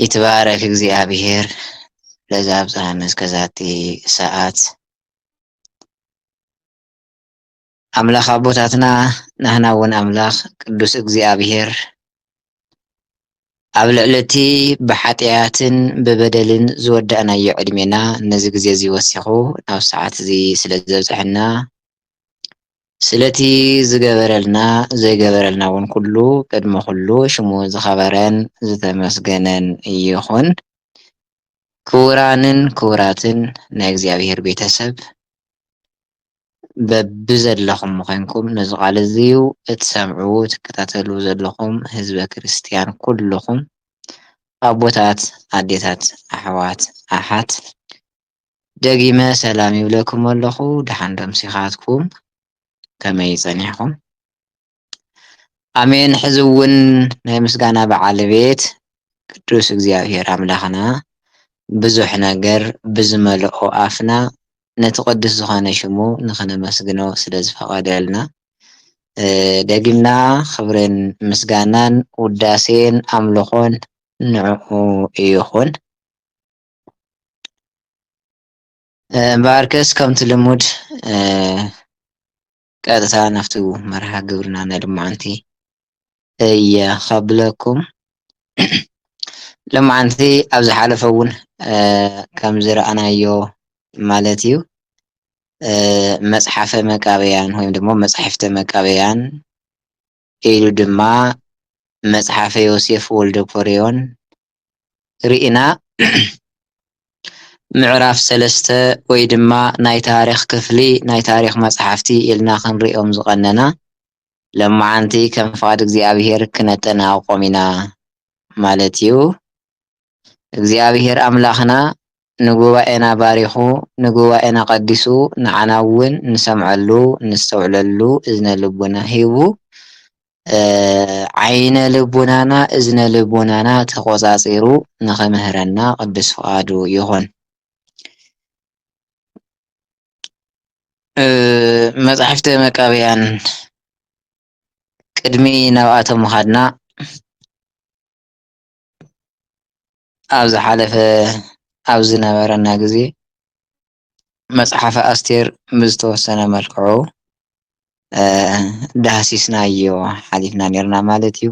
ይትባረክ እግዚኣብሔር ለዘ ኣብፀሐነ እስከ ዛቲ ሰዓት ኣምላክ ኣቦታትና ናህና እውን ኣምላክ ቅዱስ እግዚኣብሔር ኣብ ልዕሊ እቲ ብሓጥያትን ብበደልን ዝወዳእናዮ ዕድሜና ነዚ ግዜ እዚ ወሲኩ ናብ ሰዓት እዚ ስለ ዘብፀሐና ስለቲ ዝገበረልና ዘይገበረልና ውን ኩሉ ቅድሚ ኩሉ ሽሙ ዝኸበረን ዝተመስገነን ይኹን። ክቡራንን ክቡራትን ናይ እግዚኣብሔር ቤተሰብ በብዘለኹም ኮይንኩም ነዚ ቃል እዚ እትሰምዑ እትከታተሉ ዘለኹም ህዝበ ክርስትያን ኩሉኹም ኣቦታት፣ ኣዴታት፣ ኣሕዋት፣ ኣሓት፣ ደጊመ ሰላም ይብለኩም ኣለኹ ደሓን ዶ ኣምሲኻትኩም ከመይ ጸኒሕኹም ኣሜን ሕዚ እውን ናይ ምስጋና በዓል ቤት ቅዱስ እግዚኣብሔር ኣምላኽና ብዙሕ ነገር ብዝመልኦ ኣፍና ነቲ ቅዱስ ዝኾነ ሽሙ ንኽነመስግኖ ስለ ዝፈቐደልና ደጊምና ኽብርን ምስጋናን ውዳሴን ኣምልኾን ንዕኡ ይኹን። እምበኣርከስ ከምቲ ልሙድ ቀጥታ ናብቲ መርሃ ግብርና ናይ ሎማዓንቲ እየ ከብለኩም ሎማዓንቲ ኣብ ዝሓለፈ እውን ከም ዝረኣናዮ ማለት እዩ መፅሓፈ መቃብያን ወይ ድማ መፃሕፍተ መቃብያን ኢሉ ድማ መጽሓፈ ዮሴፍ ወልደኮርዮን ርኢና ምዕራፍ ሰለስተ ወይ ድማ ናይ ታሪኽ ክፍሊ ናይ ታሪኽ መጽሓፍቲ ኢልና ክንርእዮም ዝቐነና ሎማዓንቲ ከም ፍቓድ እግዚኣብሔር ክነጠናቕቖም ኢና ማለት እዩ። እግዚኣብሄር ኣምላኽና ንጉባኤና ባሪኹ ንጉባኤና ቀዲሱ ንዓና እውን ንሰምዐሉ ነስተውዕለሉ እዝነ ልቡና ሂቡ ዓይነ ልቡናና እዝነ ልቡናና ተቆጻጺሩ ንኽምህረና ቅዱስ ፍቃዱ ይኹን። መጻሕፍተ መቃብያን ቅድሚ ናብኣቶም ምኻድና ኣብ ዝሓለፈ ኣብ ዝነበረና ግዘ መፅሓፈ ኣስቴር ብዝተወሰነ መልክዑ ዳህሲስናዮ ሓሊፍና ኔርና ማለት እዩ።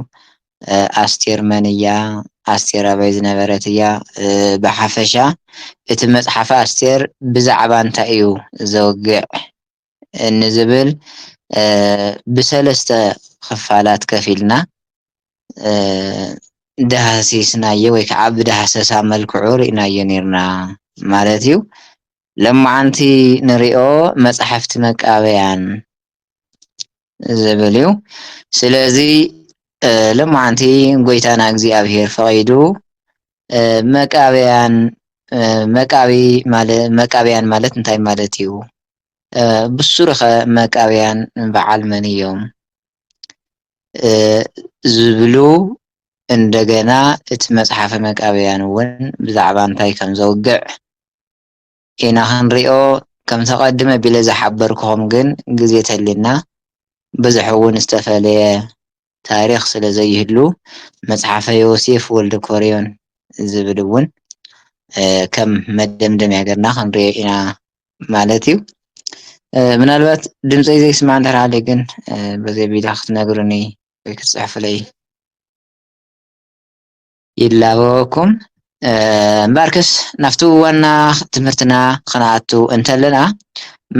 ኣስቴር መን እያ? ኣስቴር ኣበይ ዝነበረት እያ? ብሓፈሻ እቲ መፅሓፈ ኣስቴር ብዛዕባ እንታይ እዩ ዘውግዕ? ንዝብል ብሰለስተ ክፋላት ከፊልና ዳህሲስናዮ ወይ ከዓ ብዳህሰሳ መልክዑ ርኢናዮ ኔርና ማለት እዩ። ሎማዓንቲ ንሪኦ መፃሕፍቲ መቃብያን ዝብል እዩ ስለዚ ሎማዓንቲ ጎይታና እግዚኣብሔር ፈቂዱ መቃብያን መቃቢ መቃብያን ማለት እንታይ ማለት እዩ? ብሱሩኸ መቃብያን በዓል መን እዮም? ዝብሉ እንደገና እቲ መፅሓፈ መቃብያን እውን ብዛዕባ እንታይ ከምዘውግዕ ኢና ክንሪኦ ከምቲ ኣቀድም ኣቢለ ዝሓበርኩኹም ግን ግዜ ተልዩና ብዝሕ ውን ዝተፈለየ ታሪኽ ስለ ዘይህሉ መጽሓፈ ዮሴፍ ወልደኮርዮን ዝብል ውን ከም መደምደምያ ገርና ክንሪኦ ኢና ማለት እዩ ምናልባት ድምፀይ ዘይስማዕ እንድሕር ሃልዩ ግን በዚ ኣቢላ ክትነግሩኒ ወይ ክትፅሕፉለይ ይላበወኩም እምበኣርከስ ናብቲ ዋና ትምህርትና ክንኣቱ እንተለና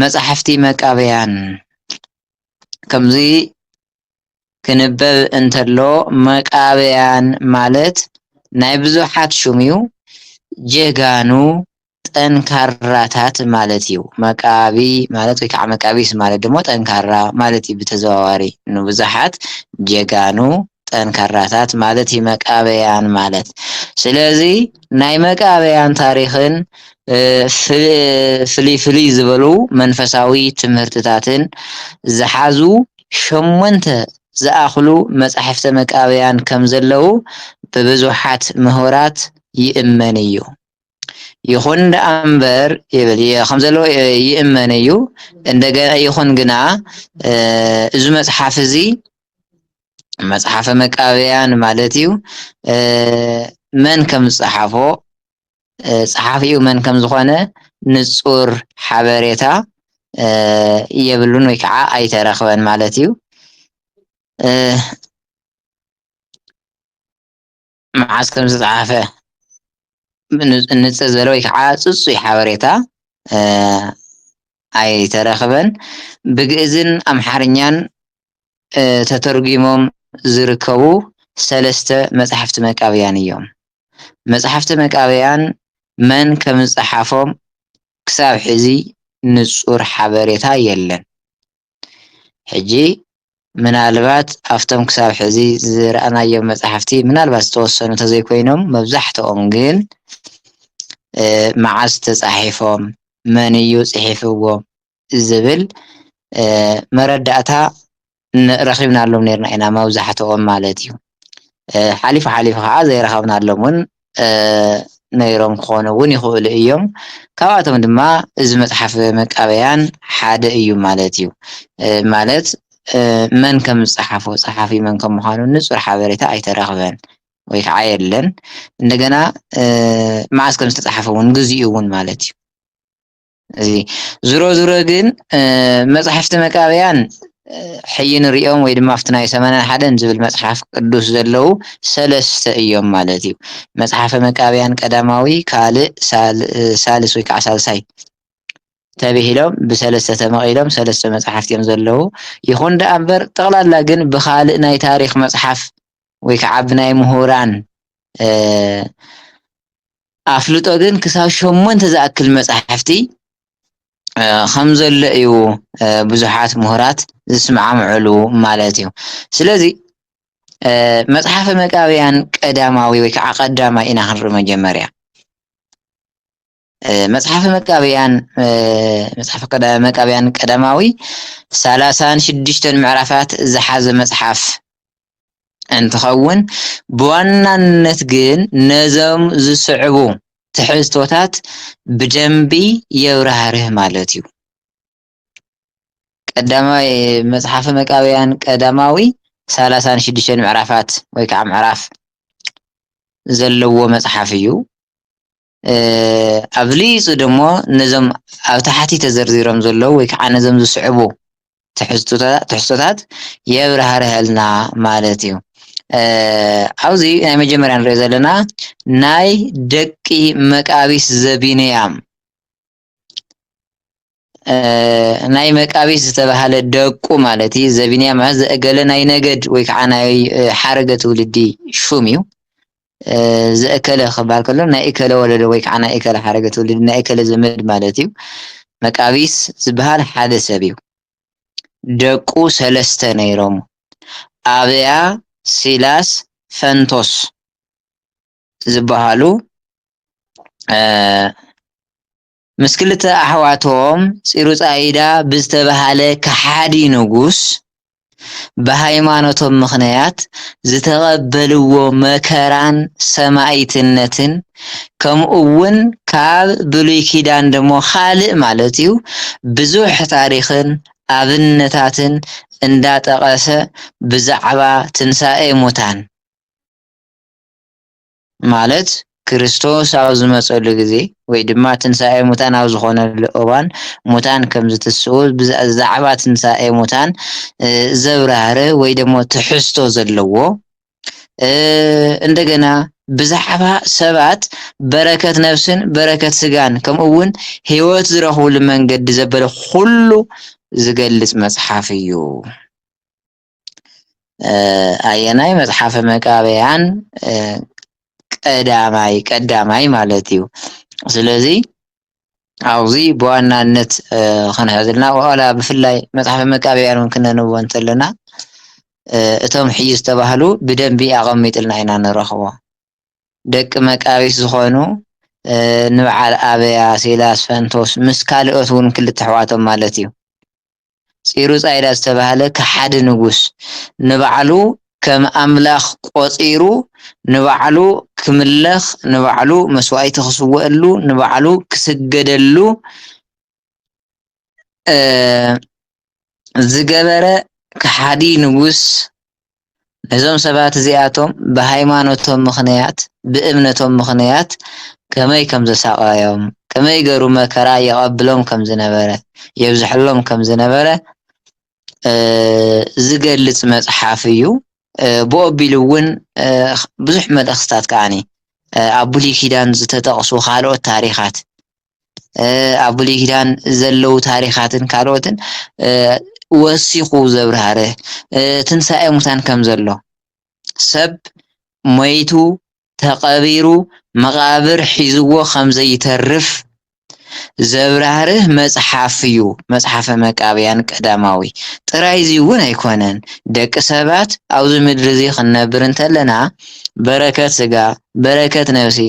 መጻሕፍቲ መቃብያን ከምዚ ክንበብ እንተሎ መቃብያን ማለት ናይ ብዙሓት ሹምዩ ጀጋኑ ጠንካራታት ማለት እዩ። መቃቢ ማለት ወይ ከዓ መቃቢስ ማለት ደግሞ ጠንካራ ማለት እዩ ብተዘዋዋሪ ንብዙሓት ጀጋኑ ጠንካራታት ማለት እዩ መቃበያን ማለት ስለዚ ናይ መቃበያን ታሪክን ፍልይ ፍልይ ዝበሉ መንፈሳዊ ትምህርትታትን ዝሓዙ ሸሞንተ ዝኣክሉ መፃሕፍተ መቃብያን ከምዘለዉ ብብዙሓት ምሁራት ይእመን እዩ። ይኹን ደኣ እምበር ይብል ከም ዘሎ ይእመን እዩ እንደገና ይኹን ግና እዚ መጽሓፍ እዚ መጽሓፈ መቃብያን ማለት እዩ መን ከም ዝጸሓፎ ጸሓፊኡ መን ከም ዝኾነ ንጹር ሓበሬታ የብሉን ወይ ከዓ ኣይተረኽበን ማለት እዩ መዓዝ ከም ዝተጻሓፈ ንጽር ዝበለ ወይ ከዓ ጽጹይ ሓበሬታ ኣይተረኽበን። ብግእዝን ኣምሓርኛን ተተርጒሞም ዝርከቡ ሰለስተ መጻሕፍቲ መቃብያን እዮም። መጻሕፍቲ መቃብያን መን ከም ዝጸሓፎም ክሳብ ሕዚ ንጹር ሓበሬታ የለን። ሕጂ ምናልባት ኣብቶም ክሳብ ሕዚ ዝረኣናዮም መጻሕፍቲ ምናልባት ዝተወሰኑ እንተዘይኮይኖም መብዛሕትኦም ግን መዓዝ ተጻሒፎም መን እዩ ጽሒፍዎም ዝብል መረዳእታ ረኺብናሎም ኔርና ኢና መብዛሕትኦም ማለት እዩ ሓሊፉ ሓሊፉ ከኣ ዘይረኸብናሎም ውን ነይሮም ክኾኑ እውን ይኽእሉ እዮም። ካብኣቶም ድማ እዚ መፅሓፍ መቃብያን ሓደ እዩ ማለት እዩ። ማለት መን ከም ዝፀሓፎ ፀሓፊ መን ከም ምዃኑ ንፁር ሓበሬታ ኣይተረኽበን ወይ ከዓ የለን። እንደገና መዓዝ ከም ዝተፅሓፈ እውን ግዚኡ እውን ማለት እዩ። እዚ ዝሮ ዝሮ ግን መፅሓፍቲ መቃብያን ሕይ ንሪኦም ወይ ድማ ኣብቲ ናይ ሰማንያ ሓደን ዝብል መፅሓፍ ቅዱስ ዘለዉ ሰለስተ እዮም ማለት እዩ መፅሓፈ መቃብያን ቀዳማዊ ካልእ ሳልስ ወይ ከዓ ሳልሳይ ተብሂሎም ብሰለስተ ተመቒሎም ሰለስተ መፅሓፍቲ እዮም ዘለዉ ይኹን ደኣ እምበር ጠቕላላ ግን ብካልእ ናይ ታሪክ መፅሓፍ ወይ ከዓ ብናይ ምሁራን ኣፍልጦ ግን ክሳብ ሸሞንተ ዝኣክል መጻሕፍቲ ከም ዘሎ እዩ ብዙሓት ምሁራት ዝስማማምዕሉ ማለት እዩ ስለዚ መጽሓፈ መቃብያን ቀዳማዊ ወይ ከዓ ቀዳማይ ኢና ክንርኢ መጀመርያ መጽሓፈ መቃብያን መጽሓፈ መቃብያን ቀዳማዊ ሰላሳን ሽዱሽተን ምዕራፋት ዝሓዘ መጽሓፍ እንትኸውን ብዋናነት ግን ነዞም ዝስዕቡ ትሕዝቶታት ብደንቢ የብራህርህ ማለት እዩ። ቀዳማይ መጽሓፈ መቃብያን ቀዳማዊ ሰላሳን ሽዱሽተን ምዕራፋት ወይ ከዓ ምዕራፍ ዘለዎ መጽሓፍ እዩ። ኣብሊፁ ድሞ ነዞም ኣብ ታሕቲ ተዘርዚሮም ዘለዉ ወይ ከዓ ነዞም ዝስዕቡ ትሕዝቶታት የብራህርሀልና ማለት እዩ። ኣብዚ ናይ መጀመርያ ንሪኦ ዘለና ናይ ደቂ መቃቢስ ዘቢንያም ናይ መቃቢስ ዝተባህለ ደቁ ማለት እዩ ዘቢንያ ማለት ዘእገለ ናይ ነገድ ወይ ከዓ ናይ ሓረገ ትውልዲ ሹም እዩ ዘእከለ ክበሃል ከሎ ናይ እከለ ወለደ ወይ ከዓ ናይ እከለ ሓረገ ትውልዲ ናይ እከለ ዘመድ ማለት እዩ መቃቢስ ዝበሃል ሓደ ሰብ እዩ ደቁ ሰለስተ ነይሮም ኣብያ ሲላስ ፈንቶስ ዝበሃሉ ምስ ክልተ ኣሕዋቶም ፂሩፃይዳ ብዝተበሃለ ከሓዲ ንጉስ ብሃይማኖቶም ምኽንያት ዝተቐበልዎ መከራን ሰማይትነትን ከምኡ እውን ካብ ብሉይ ኪዳን ደሞ ካልእ ማለት እዩ ብዙሕ ታሪኽን ኣብነታትን እንዳጠቐሰ ብዛዕባ ትንሳኤ ሙታን ማለት ክርስቶስ ኣብ ዝመጸሉ ግዜ ወይ ድማ ትንሳኤ ሙታን ኣብ ዝኾነሉ እዋን ሙታን ከም ዝትስኡ ብዛዕባ ትንሳኤ ሙታን ዘብራህር ወይ ደግሞ ትሕዝቶ ዘለዎ እንደገና ብዛዕባ ሰባት በረከት ነፍስን በረከት ስጋን ከምኡ እውን ህይወት ዝረኽብሉ መንገዲ ዘበለ ኩሉ ዝገልጽ መጽሓፍ እዩ። ኣየናይ መጽሓፈ መቃብያን ቀዳማይ ቀዳማይ ማለት እዩ ስለዚ ኣብዚ ብዋናነት ክንሕዝልና ዋላ ብፍላይ መጽሓፈ መቃብያን እውን ክነንቦ እንተለና እቶም ሕዩ ዝተባህሉ ብደንቢ ኣቐሚጥልና ኢና ንረኽቦ ደቂ መቃቢት ዝኾኑ ንበዓል ኣበያ ሴላስ ፈንቶስ ምስ ካልኦት እውን ክልተ ኣሕዋቶም ማለት እዩ ፂሩፃይዳ ዝተባህለ ከሓዲ ንጉስ ንባዕሉ ከም ኣምላኽ ቆፂሩ ንባዕሉ ክምለኽ ንባዕሉ መስዋእቲ ክስወኣሉ ንባዕሉ ክስገደሉ ዝገበረ ከሓዲ ንጉስ ነዞም ሰባት እዚኣቶም ብሃይማኖቶም ምኽንያት ብእምነቶም ምኽንያት ከመይ ከም ዘሳቐዮም ከመይ ገሩ መከራ የቐብሎም ከም ዝነበረ የብዝሐሎም ከም ዝነበረ ዝገልጽ መጽሓፍ እዩ ብኦ ቢሉ እውን ብዙሕ መልእኽትታት ከዓኒ ኣብ ብሉይ ኪዳን ዝተጠቕሱ ካልኦት ታሪኻት ኣብ ብሉይ ኪዳን ዘለዉ ታሪኻትን ካልኦትን ወሲኹ ዘብርሃረ ትንሳኤ ሙታን ከም ዘሎ ሰብ ሞይቱ ተቐቢሩ መቓብር ሒዝዎ ኸም ዘይተርፍ ዘብራህርህ መጽሓፍ እዩ መጽሓፈ መቃብያን ቀዳማዊ ጥራይ እዚ እውን ኣይኮነን ደቂ ሰባት ኣብዚ ምድሪ እዚ ክንነብር እንተለና በረከት ስጋ በረከት ነብሲ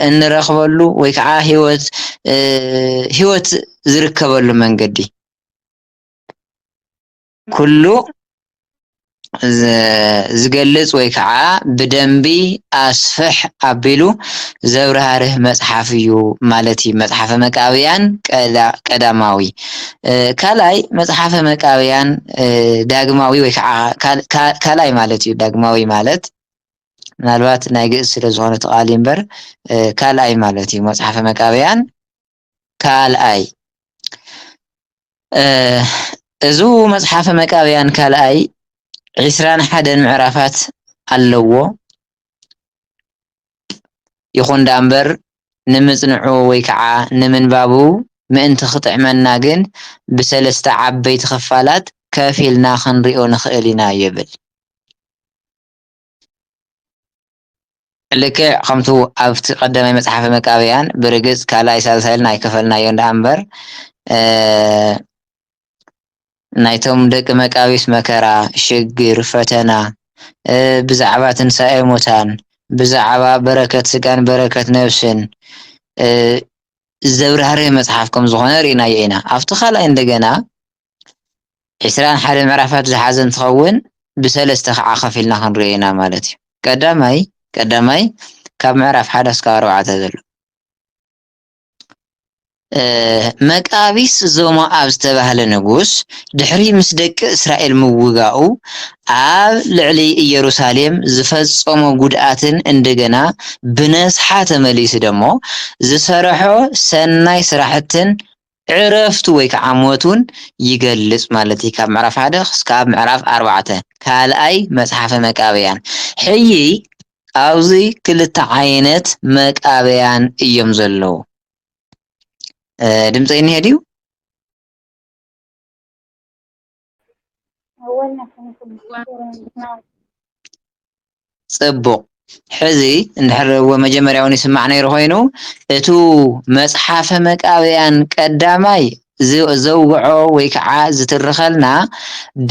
እንረክበሉ ወይ ከዓ ህይወት ህይወት ዝርከበሉ መንገዲ ኩሉ ዝገልፅ ወይ ከዓ ብደንቢ ኣስፍሕ ኣቢሉ ዘብራህርህ መፅሓፍ እዩ ማለት እዩ መፅሓፈ መቃብያን ቀዳማዊ ካልኣይ መፅሓፈ መቃብያን ዳግማዊ ወይ ከዓ ካልኣይ ማለት እዩ ዳግማዊ ማለት ምናልባት ናይ ግእዝ ስለ ዝኾነ እቲ ቃል እምበር ካልኣይ ማለት እዩ መጽሓፈ መቃብያን ካልኣይ እዙ መጽሓፈ መቃብያን ካልኣይ ዒስራን ሓደን ምዕራፋት ኣለዎ ይኹን ዳ እምበር ንምጽንዑ ወይ ከዓ ንምንባቡ ምእንቲ ክጥዕመና ግን ብሰለስተ ዓበይቲ ክፋላት ከፊልና ክንሪኦ ንኽእል ኢና ይብል ልክዕ ከምቱ ኣብቲ ቀዳማይ መጽሓፈ መቃብያን ብርግጽ ካልኣይ ሳልሳይ ኢልና ኣይከፈልናዮ እንድኣ እምበር ናይቶም ደቂ መቃቢስ መከራ፣ ሽግር፣ ፈተና ብዛዕባ ትንሳኤ ሙታን ብዛዕባ በረከት ስጋን በረከት ነብስን ዘብራህርህ መጽሓፍ ከም ዝኾነ ርኢናዮ ኢና። ኣብቲ ካልኣይ እንደገና ዕስራን ሓደን ምዕራፋት ዝሓዘ እንትኸውን ብሰለስተ ከዓ ከፊልና ክንሪኦ ኢና ማለት እዩ። ቀዳማይ ቀዳማይ ካብ ምዕራፍ ሓደ እስካብ ኣርባዕተ ዘሎ መቃቢስ ዞሞኣብ ዝተባህለ ንጉስ ድሕሪ ምስ ደቂ እስራኤል ምውጋኡ ኣብ ልዕሊ ኢየሩሳሌም ዝፈጸሞ ጉድኣትን እንደገና ብነስሓ ተመሊሱ ደሞ ዝሰረሖ ሰናይ ስራሕትን ዕረፍቱ ወይ ከዓ ሞት እውን ይገልፅ ማለት እዩ ካብ ምዕራፍ ሓደ ክስካብ ምዕራፍ ኣርባዕተ ካልኣይ መፅሓፈ መቃብያን ሕይ ኣብዚ ክልተ ዓይነት መቃብያን እዮም ዘለዉ ድምፀይ እኒሀ ድዩ ጽቡቕ ሕዚ እንድሕር እወ መጀመርያ እውን ይስማዕ ነይሩ ኮይኑ እቱ መጽሓፈ መቃብያን ቀዳማይ ዝ- ዘውግዖ ወይ ከዓ ዝትርኸልና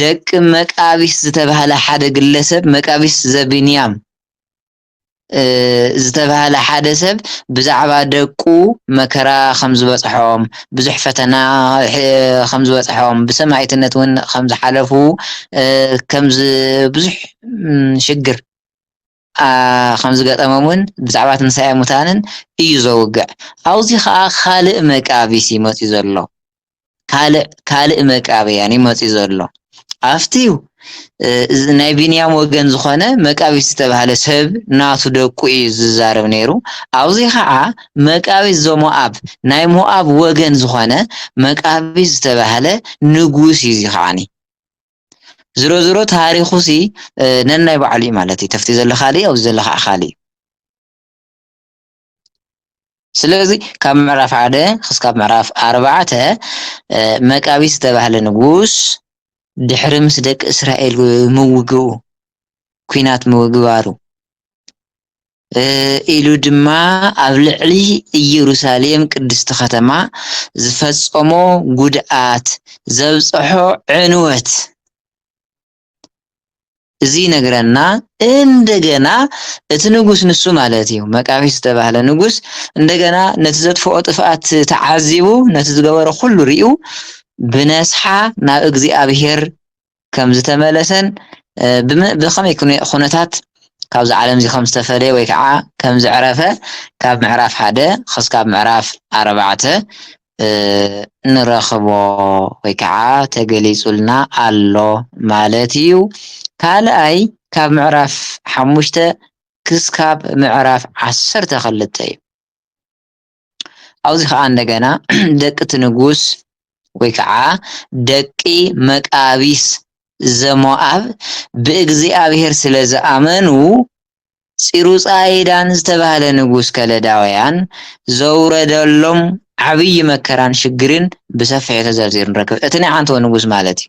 ደቂ መቃቢስ ዝተባህለ ሓደ ግለሰብ መቃቢስ ዘቢንያም ዝተባህለ ሓደ ሰብ ብዛዕባ ደቁ መከራ ከም ዝበጽሖም፣ ብዙሕ ፈተና ከም ዝበጽሖም፣ ብሰማኢትነት እውን ከም ዝሓለፉ ከም ብዙሕ ሽግር ከም ዝገጠሞምን ብዛዕባ ትንሳኤ ሙታንን እዩ ዘውግዕ። ኣብዚ ከኣ ካልእ መቃቢስ እዩ መጺኡ ዘሎ። ካልእ ካልእ መቃብያን እዩ መፂኡ ዘሎ ኣብቲ ናይ ቢንያም ወገን ዝኾነ መቃቢት ዝተባህለ ሰብ ናቱ ደቁ እዩ ዝዛረብ ነይሩ ኣብዚ ከዓ መቃቢት ዘሞኣብ ናይ ሞኣብ ወገን ዝኾነ መቃቢት ዝተባህለ ንጉስ እዩ እዚ ከዓኒ ዝሮ ዝሮ ታሪኹ ሲ ነናይ ባዕሉ እዩ ማለት እዩ ተፍቲ ዘሎ ካልእ ኣብዚ ዘሎ ከዓ ካልእ እዩ ስለዚ ካብ ምዕራፍ ሓደ ክስካብ ምዕራፍ ኣርባዕተ መቃቢስ ዝተባህለ ንጉስ ድሕሪ ምስ ደቂ እስራኤል ምውግኡ ኩናት ምግባሩ ኢሉ ድማ ኣብ ልዕሊ ኢየሩሳሌም ቅድስቲ ከተማ ዝፈጸሞ ጉድኣት ዘብጽሖ ዕንወት እዚ ይነግረና እንደገና እቲ ንጉስ ንሱ ማለት እዩ መቃቢስ ዝተባህለ ንጉስ እንደገና ነቲ ዘጥፍኦ ጥፍኣት ተዓዚቡ ነቲ ዝገበሮ ኩሉ ርዩ ብነስሓ ናብ እግዚኣብሄር ከም ዝተመለሰን ብኸመይ ኩነታት ካብዚ ዓለም እዚ ከም ዝተፈለየ ወይ ከዓ ከም ዘዕረፈ ካብ ምዕራፍ ሓደ ክስካብ ምዕራፍ ኣርባዕተ እንረኽቦ ወይ ከዓ ተገሊፁልና ኣሎ ማለት እዩ። ካልኣይ ካብ ምዕራፍ ሓሙሽተ ክስካብ ምዕራፍ ዓሰርተ ክልተ እዩ። ኣብዚ ከዓ እንደገና ደቂ እቲ ንጉስ ወይ ከዓ ደቂ መቃቢስ ዘሞኣብ ብእግዚኣብሔር ስለ ዝኣመኑ ፂሩፃይዳን ዝተባህለ ንጉስ ከለዳውያን ዘውረደሎም ዓብዪ መከራን ሽግርን ብሰፊሑ ተዘርዚሩ ንረክብ። እቲ ናይ ዓንተቦ ንጉስ ማለት እዩ።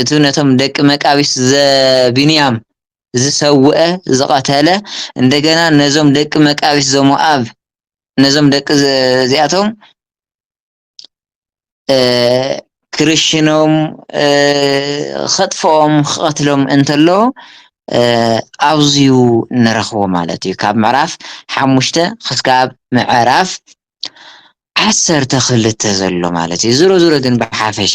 እቲ ነቶም ደቂ መቃቢስ ዘቢንያም ዝሰውአ ዝቐተለ እንደገና ነዞም ደቂ መቃቢስ ዘሞኣብ ነዞም ደቂ እዚኣቶም ክርሽኖም ኸጥፍኦም ክቐትሎም እንተሎ ኣብዚዩ ንረኽቦ ማለት እዩ ካብ ምዕራፍ ሓሙሽተ ክስካብ ምዕራፍ ዓሰርተ ክልተ ዘሎ ማለት እዩ ዝሮ ዝሮ ግን ብሓፈሻ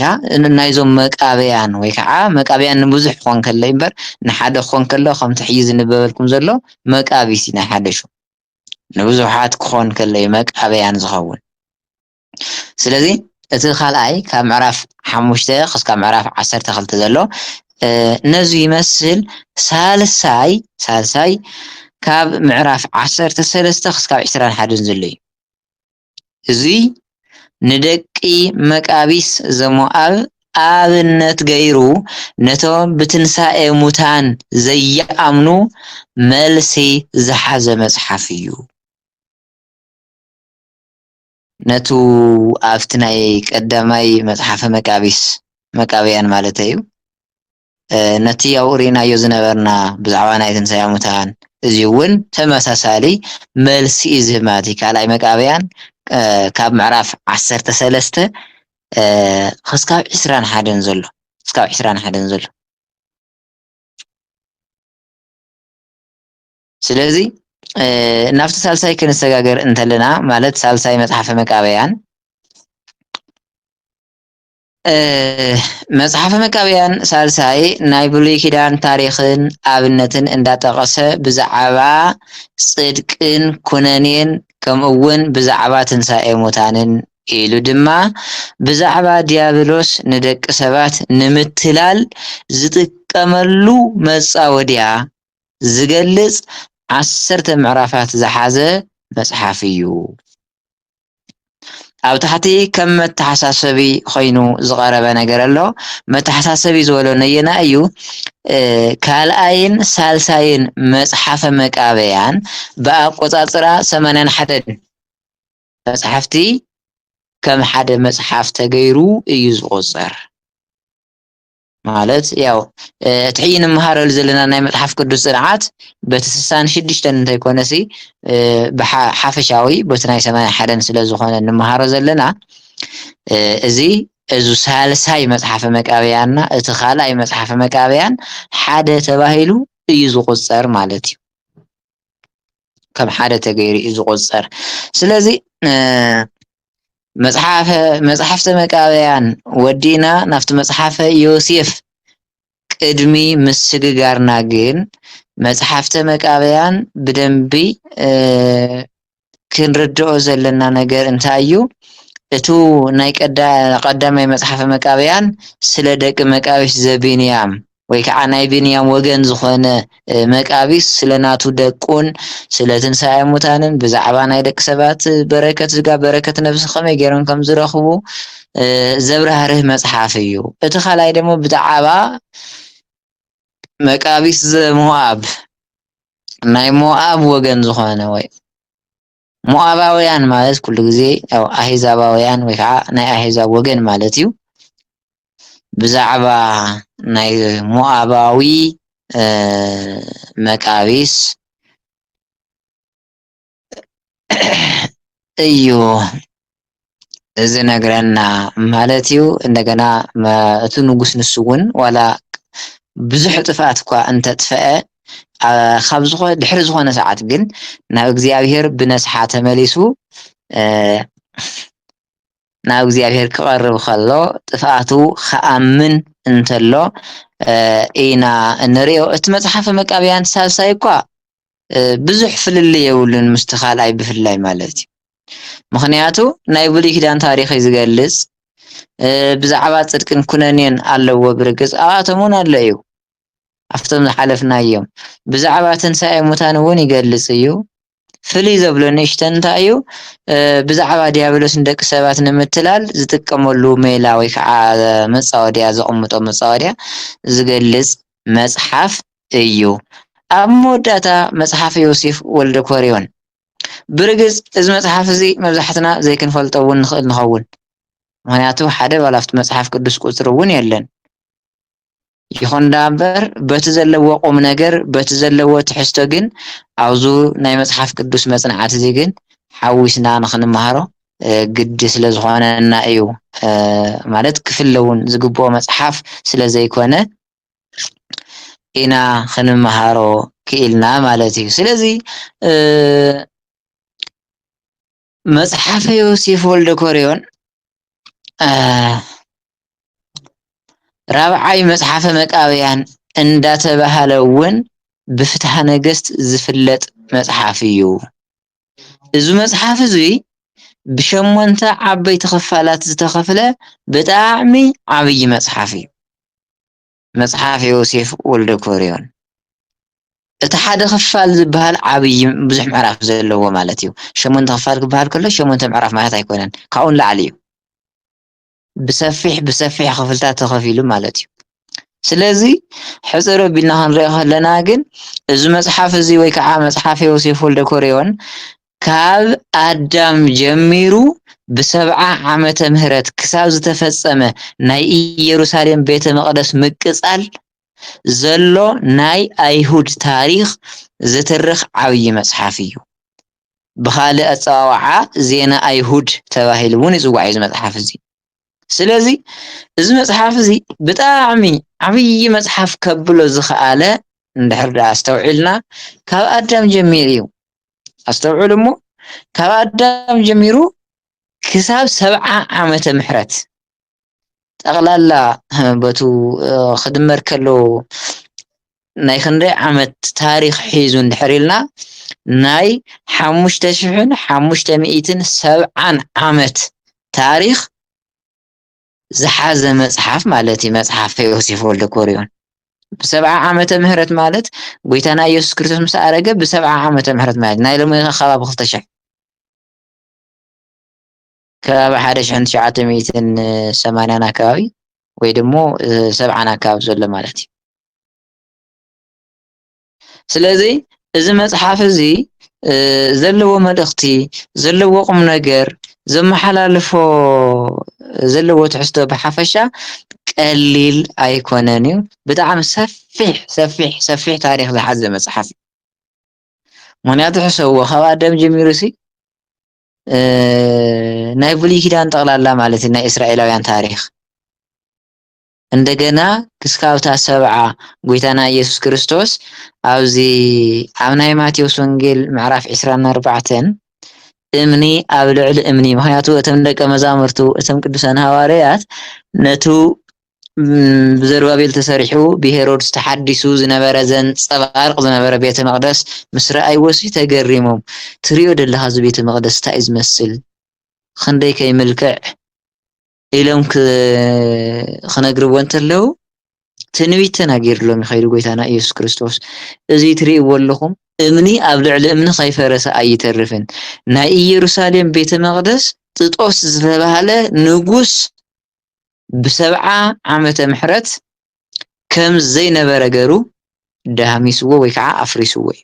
ናይዞም መቃብያን ወይ ከዓ መቃብያን ንብዙሕ ክኾን ከሎ እምበር ንሓደ ክኾን ከሎ ከምቲ ሕጂ ዝንበበልኩም ዘሎ መቃቢሲ ናይ ሓደሹ ንብዙሓት ክኾን ከሎዩ መቃብያን ዝኸውን። ስለዚ እቲ ካልኣይ ካብ ምዕራፍ ሓሙሽተ ክስካብ ምዕራፍ ዓሰርተ ክልተ ዘሎ ነዙ ይመስል ሳልሳይ ሳልሳይ ካብ ምዕራፍ ዓሰርተ ሰለስተ ክስካብ ዕስራን ሓደን ዘሎ እዩ። እዙይ ንደቂ መቃቢስ ዘሞኣብ ኣብነት ገይሩ ነቶም ብትንሣኤ ሙታን ዘይኣምኑ መልሲ ዝሓዘ መጽሓፍ እዩ። ነቱ ኣብቲ ናይ ቀዳማይ መጽሓፈ መቃቢስ መቃብያን ማለተዩ ነቲ ኣብኡ ርኢናዮ ዝነበርና ብዛዕባ ናይ ትንሳኤ ሙታን እዚ እውን ተመሳሳሊ መልሲ እዩ ዝህብ ማለት እዩ ካልኣይ መቃብያን ካብ ምዕራፍ ዓሰርተ ሰለስተ ክስካብ ዕስራን ሓደን ዘሎ ክስካብ ዕስራን ሓደን ዘሎ ስለዚ ናብቲ ሳልሳይ ክንሰጋገር እንተለና ማለት ሳልሳይ መጽሓፈ መቃበያን መጽሓፈ መቃብያን ሳልሳይ ናይ ብሉይ ኪዳን ታሪኽን ኣብነትን እንዳጠቐሰ ብዛዕባ ጽድቅን ኩነኔን ከምኡ እውን ብዛዕባ ትንሣኤ ሙታንን ኢሉ ድማ ብዛዕባ ዲያብሎስ ንደቂ ሰባት ንምትላል ዝጥቀመሉ መጻወድያ ዝገልጽ ዓሰርተ ምዕራፋት ዝሓዘ መጽሓፍ እዩ። ኣብ ታሕቲ ከም መተሓሳሰቢ ኮይኑ ዝቐረበ ነገር ኣሎ። መተሓሳሰቢ ዝበሎ ነየናይ እዩ? ካልኣይን ሳልሳይን መጽሓፈ መቃብያን ብኣቆጻጽራ ሰማንያን ሓደን መጽሓፍቲ ከም ሓደ መጽሓፍ ተገይሩ እዩ ዝቑጸር። ማለት ያው እቲ ሕጂ ንመሃረሉ ዘለና ናይ መጽሓፍ ቅዱስ ጽንዓት በቲ ስሳን ሽዱሽተን እንተይኮነሲ ብሓፈሻዊ በቲ ናይ ሰማንያ ሓደን ስለ ዝኾነ ንመሃሮ ዘለና እዚ እዚ ሳልሳይ መጽሓፈ መቃብያና እቲ ካልኣይ መጽሓፈ መቃብያን ሓደ ተባሂሉ እዩ ዝቁጸር ማለት እዩ። ከም ሓደ ተገይሩ እዩ ዝቑፀር። ስለዚ መፅሓፈ መፅሓፍተ መቃብያን ወዲእና ናብቲ መፅሓፈ ዮሴፍ ቅድሚ ምስግጋርና ግን መፅሓፍተ መቃብያን ብደንቢ ክንርድኦ ዘለና ነገር እንታይ እዩ? እቱ ናይ ቀዳማይ መፅሓፈ መቃብያን ስለ ደቂ መቃቢስ ዘቢንያም ወይ ከዓ ናይ ብንያም ወገን ዝኾነ መቃቢስ ስለ ናቱ ደቁን ስለ ትንሣኤ ሙታንን ብዛዕባ ናይ ደቂ ሰባት በረከት ዝጋ በረከት ነብሲ ከመይ ገይሮም ከም ዝረኽቡ ዘብራህርህ መጽሓፍ እዩ። እቲ ካልኣይ ደግሞ ብዛዕባ መቃቢስ ዘሞኣብ ናይ ሞኣብ ወገን ዝኾነ ወይ ሞኣባውያን ማለት ኩሉ ግዜ ያው ኣህዛባውያን ወይ ከዓ ናይ ኣህዛብ ወገን ማለት እዩ። ብዛዕባ ናይ ሞኣባዊ መቃቢስ እዩ። ዝነግረና ማለት እዩ እንደገና እቲ ንጉስ ንሱ እውን ዋላ ብዙሕ ጥፍኣት እኳ እንተጥፍአ ካብ ዝኾ ድሕሪ ዝኾነ ሰዓት ግን ናብ እግዚኣብሄር ብነስሓ ተመሊሱ ናብ እግዚኣብሄር ክቐርብ ከሎ ጥፍኣቱ ክኣምን እንተሎ ኢና እንሪኦ እቲ መፅሓፈ መቃብያን ሳልሳይ እኳ ብዙሕ ፍልልይ የብሉን ምስቲ ካልኣይ ብፍላይ ማለት እዩ ምክንያቱ ናይ ብሉይ ኪዳን ታሪክ እዩ ዝገልፅ ብዛዕባ ፅድቅን ኩነኔን ኣለዎ ብርግፅ ኣብኣቶም እውን ኣሎ እዩ ኣብቶም ዝሓለፍናዮም ብዛዕባ ትንሳኤ ሙታን እውን ይገልፅ እዩ ፍልይ ዘብሎ ንእሽተ እንታይ እዩ ብዛዕባ ዲያብሎስ ንደቂ ሰባት ንምትላል ዝጥቀመሉ ሜላ ወይ ከዓ መፃወድያ ዘቕምጦ መፃወድያ ዝገልፅ መፅሓፍ እዩ። ኣብ መወዳእታ መጽሓፈ ዮሴፍ ወልደኮርዮን። ብርግጽ እዚ መጽሓፍ እዚ መብዛሕትና ዘይክንፈልጦ እውን ንኽእል ንኸውን፣ ምኽንያቱ ሓደ ባል ኣብቲ መጽሓፍ ቅዱስ ቁጽሪ እውን የለን። ይኹን ደኣምበር በቲ ዘለዎ ቁም ነገር በቲ ዘለዎ ትሕዝቶ ግን ኣብዙ ናይ መጽሓፍ ቅዱስ መጽናዕቲ እዚ ግን ሓዊስና ንኽንመሃሮ ግዲ ስለ ዝኾነና እዩ ማለት ክፍለ እውን ዝግብኦ መጽሓፍ ስለ ዘይኮነ ኢና ክንመሃሮ ክኢልና ማለት እዩ። ስለዚ መጽሓፈ ዮሴፍ ወልደ ኮርዮን ራብዓይ መጽሓፈ መቃብያን እንዳተባሃለ እውን ብፍትሃ ነገስት ዝፍለጥ መጽሓፍ እዩ። እዚ መፅሓፍ እዙይ ብሸሞንተ ዓበይቲ ክፋላት ዝተኸፍለ ብጣዕሚ ዓብዪ መፅሓፍ እዩ። መፅሓፍ ዮሴፍ ወልደኮርዮን እቲ ሓደ ክፋል ዝበሃል ዓብዪ ብዙሕ ምዕራፍ ዘለዎ ማለት እዩ። ሸሞንተ ክፋል ክበሃል ከሎ ሸሞንተ ምዕራፍ ማለት ኣይኮነን ካብኡ ንላዕሊ እዩ። ብሰፊሕ ብሰፊሕ ክፍልታት ተኸፊሉ ማለት እዩ ስለዚ ሕፅር ቢልና ክንሪኦ ከለና ግን እዚ መፅሓፍ እዚ ወይ ከዓ መፅሓፍ ዮሴፍ ወልደ ኮሪዮን ካብ ኣዳም ጀሚሩ ብሰብዓ ዓመተ ምህረት ክሳብ ዝተፈፀመ ናይ ኢየሩሳሌም ቤተ መቕደስ ምቅፃል ዘሎ ናይ ኣይሁድ ታሪክ ዝትርኽ ዓብዪ መፅሓፍ እዩ ብኻልእ ኣጸዋውዓ ዜና ኣይሁድ ተባሂሉ እውን ይጽዋዕ እዩ እዚ መጽሓፍ እዚ። ስለዚ እዚ መጽሓፍ እዚ ብጣዕሚ ዓብዪ መጽሓፍ ከብሎ ዝኸኣለ እንድሕር ደኣ ኣስተውዒልና ካብ ኣዳም ጀሚሩ እዩ። ኣስተውዕሉ እሞ ካብ ኣዳም ጀሚሩ ክሳብ ሰብዓ ዓመተ ምሕረት ጠቕላላ በቱ ክድመር ከሎ ናይ ክንደይ ዓመት ታሪኽ ሒዙ እንድሕር ኢልና ናይ ሓሙሽተ ሽሕን ሓሙሽተ ሚእትን ሰብዓን ዓመት ታሪኽ ዝሓዘ መጽሓፍ ማለት እዩ መጽሓፍ ዮሴፍ ወልደ ኮሪዮን ብሰብዓ ዓመተ ምህረት ማለት ጎይታና ኢየሱስ ክርስቶስ ምስ ኣረገ ብሰብዓ ዓመተ ምህረት ማለት ናይ ሎሚ ከባቢ ክልተ ሽሕ ከባቢ ሓደ ሽሕን ትሽዓተ ሚእትን ሰማንያን ኣከባቢ ወይ ድሞ ሰብዓን ኣከባቢ ዘሎ ማለት እዩ ስለዚ እዚ መፅሓፍ እዚ ዘለዎ መልእኽቲ ዘለዎ ቁም ነገር ዘመሓላልፎ ዘለዎ ትሕዝቶ ብሓፈሻ ቀሊል ኣይኮነን እዩ ብጣዕሚ ሰፊሕ ሰፊሕ ሰፊሕ ታሪክ ዝሓዘ መፅሓፍ እዩ ምክንያቱ ሕሰብዎ ካብ ኣዳም ጀሚሩ ሲ ናይ ብሉይ ኪዳን ጠቕላላ ማለት እዩ ናይ እስራኤላውያን ታሪኽ እንደገና ክስካብታ ሰብዓ ጎይታና ኢየሱስ ክርስቶስ ኣብዚ ኣብ ናይ ማቴዎስ ወንጌል ምዕራፍ 24 እምኒ ኣብ ልዕሊ እምኒ ምክንያቱ እቶም ደቀ መዛሙርቱ እቶም ቅዱሳን ሃዋርያት ነቱ ብዘሩባቤል ተሰሪሑ ብሄሮድስ ተሓዲሱ ዝነበረ ዘንጸባርቕ ዝነበረ ቤተ መቕደስ ምስ ረኣይዎሲ ተገሪሞም ትሪኦ ደለኻ እዚ ቤተ መቕደስ እንታይ እዩ ዝመስል ኽንደይ ከይምልክዕ ኢሎም ክነግርዎ እንተለዉ ትንቢት ተናጊርሎም ይኸይዱ ጎይታና ኢየሱስ ክርስቶስ እዚ ትሪእዎ ኣለኹም እምኒ ኣብ ልዕሊ እምኒ ከይፈረሰ ኣይተርፍን ናይ ኢየሩሳሌም ቤተ መቕደስ ጥጦስ ዝተባህለ ንጉስ ብሰብዓ ዓመተ ምሕረት ከም ዘይነበረ ገይሩ ደሃሚስዎ ወይ ከዓ ኣፍሪስዎ እዩ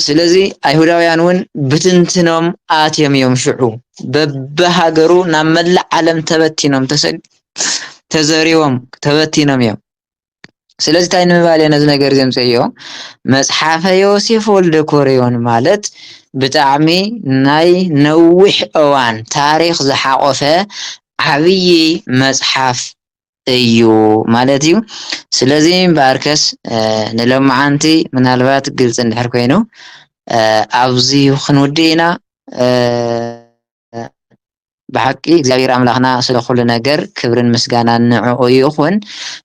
ስለዚ ኣይሁዳውያን እውን ብትንትኖም ኣትዮም እዮም ሽዑ በብሃገሩ ናብ መላእ ዓለም ተበቲኖም ተዘሪቦም ተበቲኖም እዮም ስለዚ እንታይ ንምባል እየ ነዚ ነገር እዚ ኣምፀዮ መፅሓፈ ዮሴፍ ወልደ ኮርዮን ማለት ብጣዕሚ ናይ ነዊሕ እዋን ታሪክ ዝሓቆፈ ዓብዪ መፅሓፍ እዩ ማለት እዩ ስለዚ እምበኣርከስ ንሎማዓንቲ ምናልባት ግልፂ እንድሕር ኮይኑ ኣብዚ ክንውድእ ኢና ብሓቂ እግዚኣብሔር ኣምላክና ስለ ኩሉ ነገር ክብርን ምስጋናን ንዕዑ ይኩን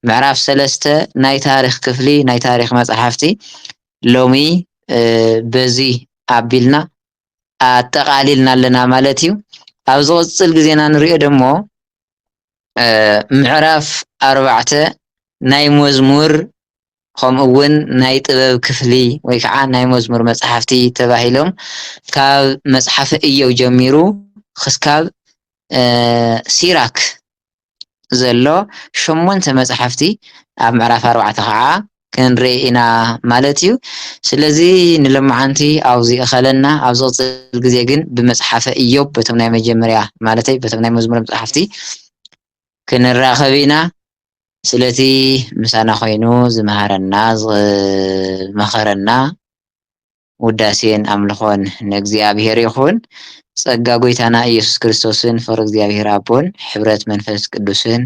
ምዕራፍ ሰለስተ ናይ ታሪክ ክፍሊ ናይ ታሪክ መፅሓፍቲ ሎሚ በዚ ኣቢልና ኣጠቃሊልና ኣለና ማለት እዩ ኣብ ዝቅፅል ግዜና ንሪኦ ደሞ ምዕራፍ ኣርባዕተ ናይ መዝሙር ኸምኡ እውን ናይ ጥበብ ክፍሊ ወይ ከዓ ናይ መዝሙር መፅሓፍቲ ተባሂሎም ካብ መፅሓፈ እዮብ ጀሚሩ ኽስካብ ሲራክ ዘሎ ሸሞንተ መፅሓፍቲ ኣብ ምዕራፍ ኣርባዕተ ከዓ ክንርኢ ኢና ማለት እዩ። ስለዚ ንሎማዓንቲ ኣብዚ እኸለና ኣብ ዝቕፅል ግዜ ግን ብመፅሓፈ እዮብ በቶም ናይ መጀመርያ ማለተይ በቶም ናይ መዝሙረ መፅሓፍቲ ክንራኸብ ኢና። ስለቲ ምሳና ኮይኑ ዝመሃረና ዝመኸረና ውዳሴን ኣምልኾን ንእግዚኣብሔር ይኹን። ጸጋ ጎይታና ኢየሱስ ክርስቶስን ፍቕሪ እግዚኣብሔር ኣቦን ሕብረት መንፈስ ቅዱስን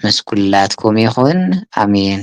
ምስ ኩላትኩም ይኹን ኣሜን።